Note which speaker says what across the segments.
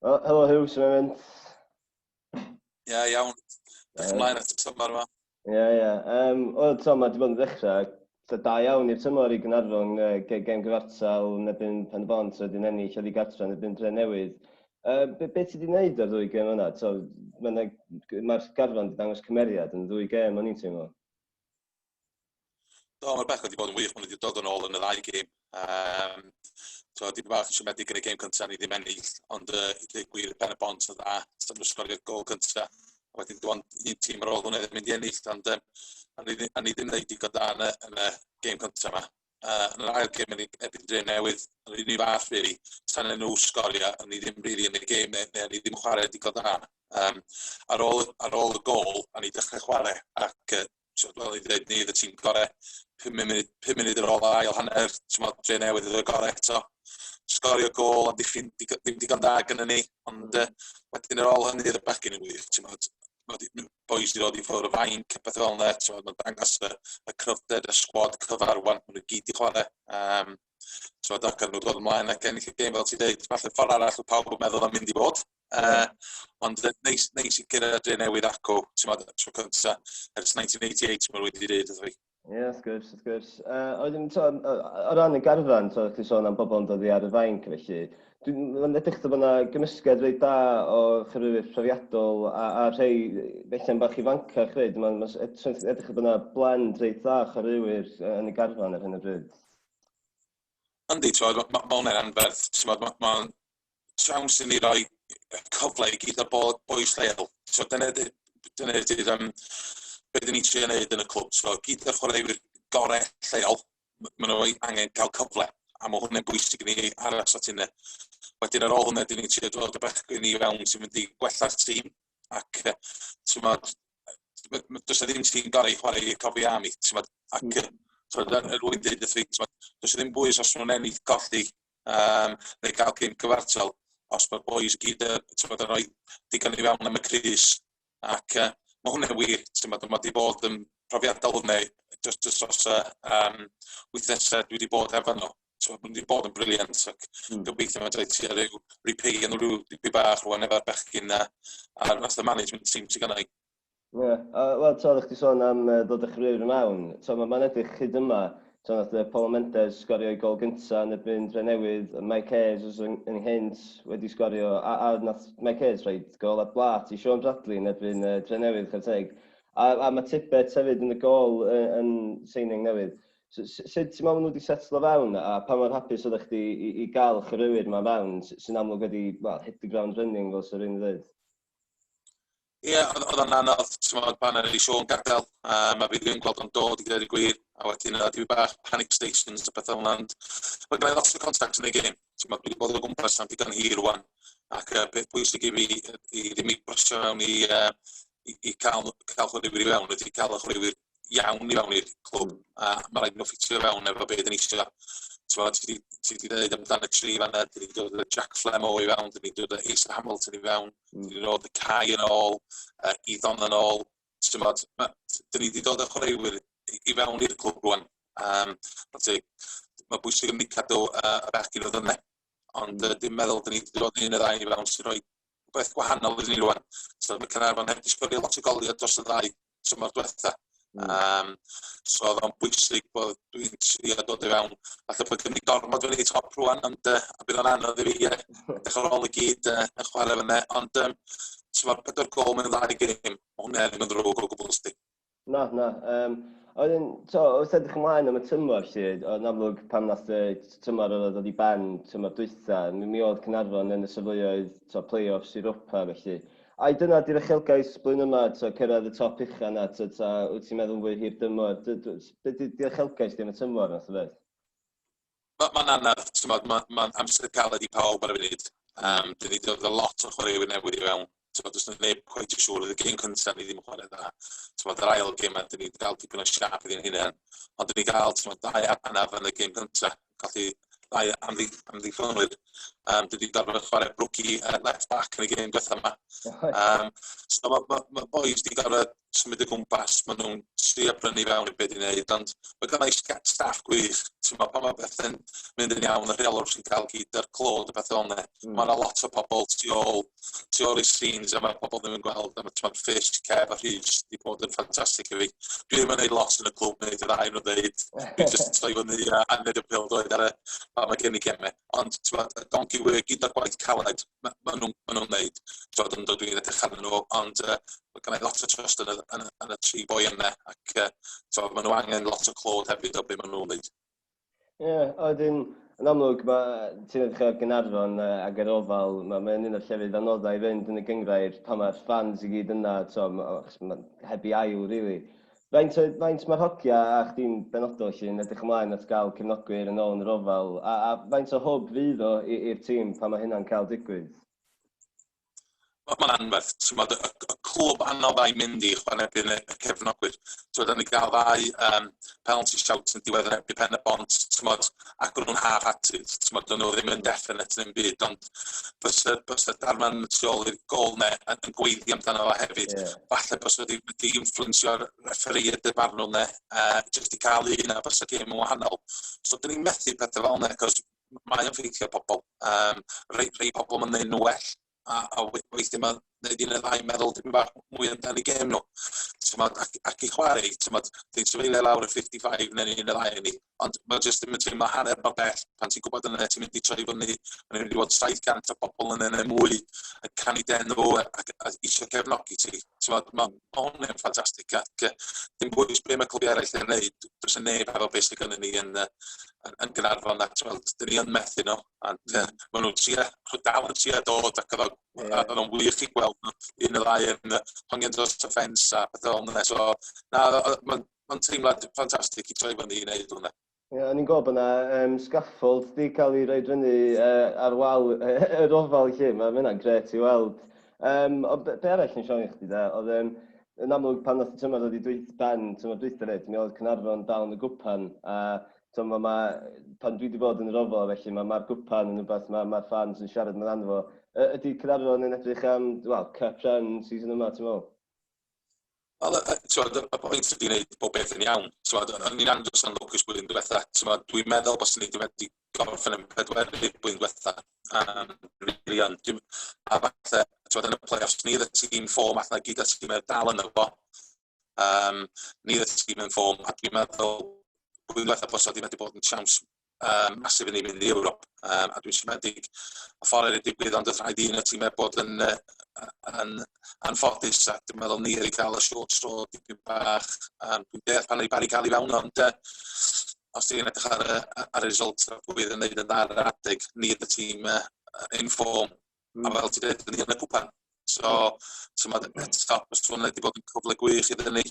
Speaker 1: Oh, helo Hugh, sy'n mynd? Ie, yeah, iawn. Dych chi'n mlaen at y tymor yma? Ie, yeah, ie. Yeah. Um, o, to, mae wedi bod yn ddechrau da, da iawn i'r tymor i Gynarfon uh, ge gem gyfartal yn ebyn pen y bont roedd yn ennill oedd i gartra yn ebyn dre newydd. Uh, be, be ti wedi gwneud ar ddwy gem yna? Mae'r ma garfan wedi dangos cymeriad yn ddwy gem o'n i'n teimlo. Do, mae'r bechgyn wedi bod yn wych. Maen nhw wedi dod yn ôl yn y ddau gêm. Um, so, dim bach yn siomedig yn y gêm cyntaf, ni ddim ennill, ond uh, i ddweud gwir, pen y bont yn dda, sy'n nhw sgorio'r gol cyntaf. A wedyn dwi'n un tîm ar ôl hwnna ddim mynd i ennill, ond um, a ni ddim wneud digon da yn y, yn y gêm cyntaf yma. uh, yn yr ail gêm erbyn Dre Newydd, yn yr un i fath, really. Tan nhw sgorio, ni ddim really yn y gêm, neu, neu ni ddim yn chwarae digon da. Um, ar, ôl, ar ôl y gol, a ni dechrau chwarae, ac uh, fel i ddweud, ni oedd y tîm gorau, 5 munud, 5 munud ar ôl yr ail hanner, Dre Newydd oedd y gorau eto sgorio gol am ddiffyn, ddim digon da gyda ni, ond uh, wedyn ar ôl hynny, oedd y bachgyn yn wych, ti'n modd, boi sydd wedi ffwrdd o fainc a pethau fel yna, ti'n meddwl, dangos y, y cryfder, y sgwad cyfarwan, maen nhw gyd i chwarae. Um, ti'n meddwl, ac yn nhw dod ymlaen ac ennill y gêm, fel ti'n dweud, falle ffordd arall o pawb yn meddwl am mynd i fod. Uh, ond neis, neis i gyrraedd dre newydd acw, ti'n meddwl, tro cynta, ers 1988, mae'n wedi dweud, Ie, yeah, wrth gwrs, wrth gwrs. Uh, oedden, to, o ran y garfan, to, chi sôn am bobl yn dod i ar y fainc, felly, mae'n edrych bod yna gymysgedd rei da o chyrwyr profiadol a, a rhai felly'n bach i ifancach rei. Mae'n ma edrych bod yna blend rei da o chyrwyr yn y garfan ar hyn o bryd. Yndi, mae ma, ma hwnna'n anferth. Mae ma, ma siawns i ni roi cyfle i gyd o bod bois lleol. So dyna ydy'r dyna ydy'r um, beth ni'n trio wneud yn y clwb. So gyd o'r chwaraewyr gorau lleol, maen nhw angen cael cyfle. A mae hwnna'n bwysig i ni aros at hynny. Wedyn ar ôl hwnna, dyn ni'n trio dod y bechgyn i fewn sy'n mynd i gwella'r tîm. Ac ti'n modd, does ddim tîm gorau i chwarae i'r cofi am i. Ac so, er wedi dweud wrth fi, does ddim bwys os nhw'n ennill golli um, neu gael cyn cyfartal, os mae'r boys gyd uh, tymod, yn rhoi digon i fewn am y crys. Ac uh, mae hwnna'n wir, tymod, mae wedi bod yn profiadol hwnna, just, just os uh, um, wythnesau dwi wedi bod efo nhw so wedi bod yn briliant ac mm. gobeithio mae'n dweud ti ar ryw repay yn rhyw dipyn bach rwan efo'r bechgyn na a nath y management team sy'n gannau Ie, a wel t'od o'ch di sôn am yy ddod â chriw i mewn, t'o' ma' ma'n edrych hyd yma, t'o' nath yy Paul Mendes sgorio'i gol gynta yn erbyn Drenewydd, yy Mike Hayes os yng- ynghynt wedi sgorio a a nath Mike Hayes rhoid gol ar blât i Shaun Bradley yn erbyn yy Drenewydd chware teg. A a ma' Tibbets hefyd yn y gôl yy yn signing newydd. So s- sut ti'n me'wl ma' nw 'di setlo fewn a pa mor hapus oddach chdi i i ga'l y chwaraewyr 'ma fewn sy- sy'n amlwg wedi, wel, hit the ground running fel sa rywun yn ddeud? Ie, oedd oedd o'n anodd, t'mod, pan ar ei Siôn gadael, um, a fi ddim yn gweld o'n dod i ddweud y gwir, a wedyn oedd dwi bach panic stations a pethau hwnna, ond mae gen i lot o contacts yn ei gêm, t'mod, dwi wedi bod o gwmpas am digon hir rwan, ac uh, peth pwysig i fi i ddim i brysio mewn i, uh, i, i cael, cael chwaraewyr i fewn, wedi cael y chwaraewyr iawn i fewn i'r clwb a ma' raid i nhw ffitio fewn efo be' 'dan ni isio. T'mo' ti 'di ti 'di ddeud amdan y tri fanna, 'dyn ni'n dod â Jack Flamore i fewn, 'dyn ni'n dod â Ace Hamilton i fewn, 'dyn ni'n dod â Cai yn ôl, uh, Iddon yn ôl, t'mod, ma'... 'Dyn ni 'di dod â chwaraewyr i fewn i'r clwb rwan. Um, ma' ti... Mae bwysig yn ni cadw uh, y bechgyn o ddyne, ond uh, dim meddwl 'dyn ni 'di dod un y ddau i fewn sy'n rhoi beth gwahanol iddyn ni rwan. So mae Caernarfon heb 'di sgorio lot o goliau dros y ddau tymor diwetha'. Hmm. Yym so o'dd o'n bwysig bod dwi'n trio dod i fewn. Falle bod gen i gormod wedi top rwan ond yy a bydd o'n anodd i fi yy dechre ar ôl i gyd yy yn chware fynne ond yym so ma'r pedwar gol mewn ddau gêm ma' hwnne ddim yn ddrwg o gwbwl sdi. Na na yym a wedyn t'o' wrth edrych ymlaen am y tymor 'lly o- yn amlwg pan nath y t- tymor odd o ddod i ben tymor dwytha mi mi o'dd Caernarfon yn y safleoedd t'o' play-offs Europa felly Ai dyna di'r uchelgais blwyddyn yma, tibod, cyrraedd y top ucha 'na, tibod, ta wyt ti'n meddwl yn fwy hir dymor? D- d- s- Be di dy uchelgais di am y tymor math o beth? Ma- Mae'n anodd, timod, ma- mae'n amser caled i pawb ar y funud. Yym, dyn ni 'di dod efo lot o chwaraewyr newydd i fewn. Timod, does 'na neb cweit yn siŵr. Oedd y gêm cynta ni ddim yn chwarae dda. Timod, yr ail gêm 'ma, dyn ni 'di dal dipyn o siâp iddyn hunain. Ond dyn ni ga'l, timod, dau arnaf yn y gêm cynta. colli ddau amddiffynwyr. Um, dwi wedi gorfod chwarae brwci uh, left back yn y gêm diwethaf yma. Um, so mae ma, ma boys wedi gorfod symud y gwmpas, maen nhw'n trio brynu fewn i beth i'n neud, ond mae gennau staff gwych. Ti'n meddwl, pan mae bethau'n mynd yn iawn, y rheolwr sy'n cael gyd ar clod y beth o'n ne. Mm. Mae yna lot o pobl tu ôl tu ôl i'r scenes a ma' pobol ddim yn gweld a ma' t'mod Fish, Kev a Rhys 'di bod yn ffantastic i fi. Dwi ddim yn neud lot yn y clwb neud y ddau o nw ddeud dwi jyst yn troi fyny a a neud y pêl-droed ar y pan ma' gen i geme ond t'mod y donkey work gyda'r gwaith caled ma' ma' nw'n ma' nw'n neud t'mod yndw dwi'n edrych arnyn nw ond yy ma' gennai lot o trust yn y yn y yn y tri boi yne ac yy t'mod ma' nw angen lot o clod hefyd o be' ma' nw'n neud. Ie, a wedyn, yn amlwg, mae, ti'n edrych ar Gaernarfon uh, ac ar ofal, mae'n ma un o'r llefydd anoddau i fynd yn y gyngrair pan mae'r ffans i gyd yna, to, ma, ma, heb i ail, rili. Really. Faint, faint mae'r hogia a chdi'n benodol yn edrych ymlaen at gael cefnogwyr yn ôl yn yr ofal, a, a faint o hwb fydd o i'r tîm pan mae hynna'n cael digwydd? Wel mae'n anferth, t'mod y y clwb anodd a'i mynd i chwara' erbyn y y cefnogwyr. T'mod o'n ni ga'l ddau yym penalty shout yn diwedd yn erbyn Pen-y-bont t'mod ac o'n nhw'n half-hearted t'mod o'n nhw ddim yn definate ddim byd ond byse byse Darren y tu ôl i'r gôl 'ne yn yn gweiddi amdano fo hefyd... Ie. ...falle byse wedi wedi influensio'r refferî a dy farn nhw 'ne yy jyst i ca'l un a byse gêm yn wahanol. So 'dan ni'n methu pethe fel 'ne 'c'os mae o'n ffeithio ar pobl. Yym rhei rhei pobl ma'n neud nhw well a a we- weithie ma'n neud un neu ddau meddwl dipyn bach mwy amdan 'u gêm nhw. T'mod ac ac i chware t'mod dwi'n trafeilio lawr y fifty five ne' un neu ddau o ni ond ma' jyst dim yn teimlo hanner mor bell pan ti'n gwbod yna ti'n mynd i troi fyny ma' mynd i fod saith gant o bobol yna ne' mwy yn canu dy enw a a isio cefnogi ti t'mod ma' Mae hwn yn ffantastig ac yy dim bwys be' ma' clybiau eraill yn neud do's 'na neb hefo be' sy gynnon ni yn yy yn yn Gaernarfon a t'wel' 'dyn ni yn methu n'w ac yy ma' nw'n trio ma' dal yn trio dod ac o'dd o a o'dd o'n wych i gweld n'w un ne' ddau yn yy hongian dros y ffens a pethe fel 'na so na o- o- ma'n ma'n teimlad ffantastig i troi fyny i neud hwnna. Ie, o'n i'n gweld bod 'na yym scaffold 'di cael ei roed fyny yy ar wal yy yr ofal 'lly, ma' ma' hynna'n grêt i weld. Yym ond be' be' arall o'n i isio ofyn i chdi de oedd yym yn amlwg pan ddaeth y tymor ddod i dwyth- ben tymor dwytha 'fyd mi oedd Caernarfon dal yn y gwpan a t'mo' ma' ma' pan dwi 'di bod yn yr ofal a felly ma' ma'r gwpan yn wbath ma' ma'r ffans yn siarad amdano fo. Yy ydi Caernarfon yn edrych am wel cup run season yma ti'n me'wl? Wel, yy yy t'mod, y y pwynt ydi neud pob peth yn iawn. T'mod, o- o'n i'n andros yn lwcus blwyddyn dwetha. T'mod, dwi'n meddwl baswn i 'di wedi gorffen yn pedwerydd blwyddyn dwetha, yym rili yn. Dwi'm... A falle, t'mod, yn y play-offs, ni oedd y tîm form ath 'na i gyd â'r tîm dal yno fo. Yym ni oedd y tîm yn form, a dwi'n meddwl blwyddyn dwetha bysa 'di wedi bod yn siawns um, masif yn ei mynd i Ewrop, um, a dwi'n siomedig o ffordd wedi digwydd, ond oedd rhaid i un y tîmau bod yn, uh, yn anffodus, a dwi'n meddwl ni wedi cael y short tro dipyn bach, um, dwi'n deall pan ei bari cael ei fewn, ond uh, os ti'n edrych ar, ar y result a pwy yn neud yn dda ar adeg, ni y tîm uh, in form, Mm. A fel ti'n dweud, yn y cwpan. So, tymod, eto, os ti'n wedi bod yn cyfle gwych iddyn ni,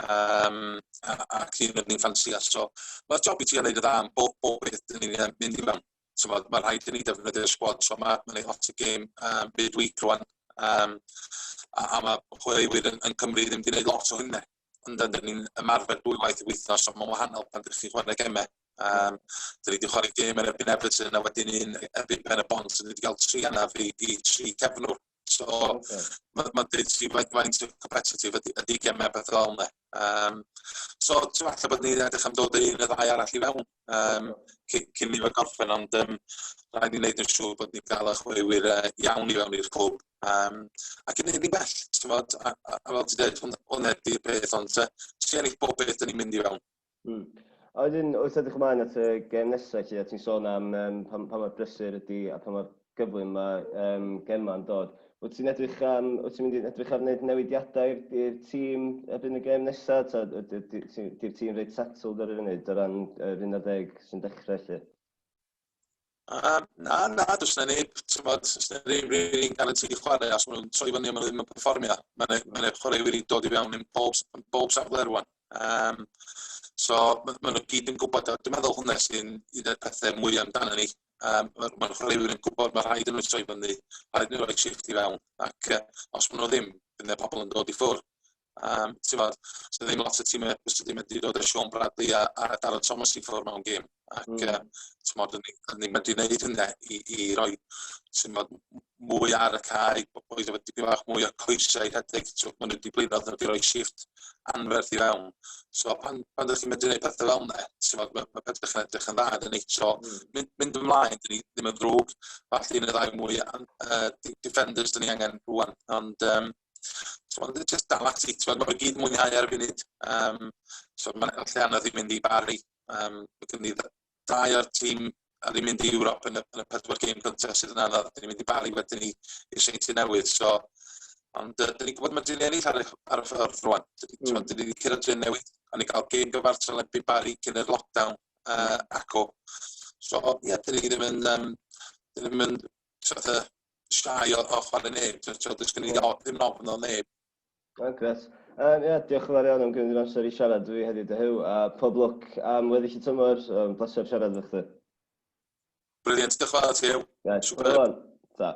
Speaker 1: um, ac un o'n ni'n ffansio. So, mae'r job i ti yn gwneud y dda am bob, bob beth dyn ni'n mynd i mewn. Tymod, mae rhaid i ni defnyddio'r sgwad, so mae ma lot o gêm um, midweek rwan, um, a, a mae chwaraewyr yn, yn Cymru ddim wedi gwneud lot o hynny. Ond dan ni'n ymarfer dwywaith y wythnos, so mae'n wahanol pan ydych chi'n chwarae gemau. Um, da ni wedi chwarae gêm yn erbyn Everton a wedyn un erbyn Ben y Bont, so ni wedi cael tri anaf i, i tri cefnwr. So, okay. mae'n ma dweud ti faint, faint o competitive ydy, ydy gemau beth fel yna. Um, so, ti'n falle bod ni'n edrych am dod yr un y ddau arall i fewn. um, cyn ni fod gorffen, ond um, rhaid i wneud yn siŵr bod ni'n cael eich chwaraewyr uh, iawn i fewn i'r cwb. Um, ac yn hynny bell, ti'n bod, a, a, a fel ti'n dweud, hwnna di'r peth, ond uh, ti'n ennill bob beth yn ei mynd i fewn. Mm. A wedyn, wrth edrych ymlaen at y gem nesaf, lle ti'n sôn am um, pa, pa mor brysur ydy a pa mor gyflym ma' yym Gemma'n dod. Wyt ti'n edrych am... Wyt ti'n mynd i edrych ar wneud newidiadau i'r i'r tîm erbyn y gêm nesa', ta yd- yd- ti 'di'r tîm reit settled ar y funud o ran yr un ar ddeg sy'n dechre 'lly? Yym na na does 'na neb t'mod does 'na neb rili'n guaranteed i chware os ma' nhw'n troi fyny a ma' nhw ddim yn perfformio. Ma' 'na ma' 'na chwaraewyr 'di dod i fewn yn pob s- yn bob safle rŵan. Yym so ma' ma' nhw gyd yn gwbod o. Dwi meddwl hwnne sy'n un o'r pethe mwya amdanon ni um, mae'r ma chwaraewyr yn gwybod mae rhaid yn nhw troi fyny, rhaid nhw roi shift i fewn, ac uh, os maen nhw ddim, bydd y pobl yn dod i ffwrdd. Um, ti'n fawr, sydd ddim lot o tîmau bys sydd ddim wedi dod â Sean Bradley a, a Darren Thomas i ffwrdd mewn gêm. Ac mm. uh, ti'n fawr, ni'n mynd i wneud hynny i, i roi ti'n fawr, mwy ar y cae, boys efo dipyn bach mwy o coesau i rhedeg, so maen nhw wedi blino, oedden nhw wedi rhoi shift anferth i fewn. So pan, pan ydych chi'n medru gwneud pethau fel yna, so, mae, mae pethau chi'n edrych yn dda, dyn ni. So mm. mynd, mynd ymlaen, dyn ni ddim yn ddrwg, falle yn y ddau mwy uh, defenders dyn ni angen rwan. Ond um, so, ond just dal ati, so, mae gyd mwynhau ar y funud. Um, so mae'n allan anodd i mynd i Barry, um, mae gen i da ia'r tîm a ni'n mynd i Ewrop yn y, yn y pedwar gêm cyntaf sydd yn anodd. Dyn ni'n mynd i Bari wedyn ni i Seinti Newydd. So, ond uh, dyn ni'n gwybod mae dyn ennill ar, ar y ffordd rwan. Dyn ni, mm. dyn ni wedi cyrraedd Dyn Newydd a ni cael gêm gyfartal erbyn Bari cyn yr lockdown uh, ac o. So, ie, yeah, dyn ni ddim yn, um, dyn ni ddim yn sort of, siai o, o chwarae neb. Dyn ni ddim yn ofn o neb. O, gret. Um, yeah, diolch yn fawr iawn am gymryd yr amser i siarad fi heddiw dy hyw, a pob lwc am weddill y tymor. Um, Bleser siarad efo chdi. Brilliant, diolch yn fawr at chi, Huw. Right, Super. Ta.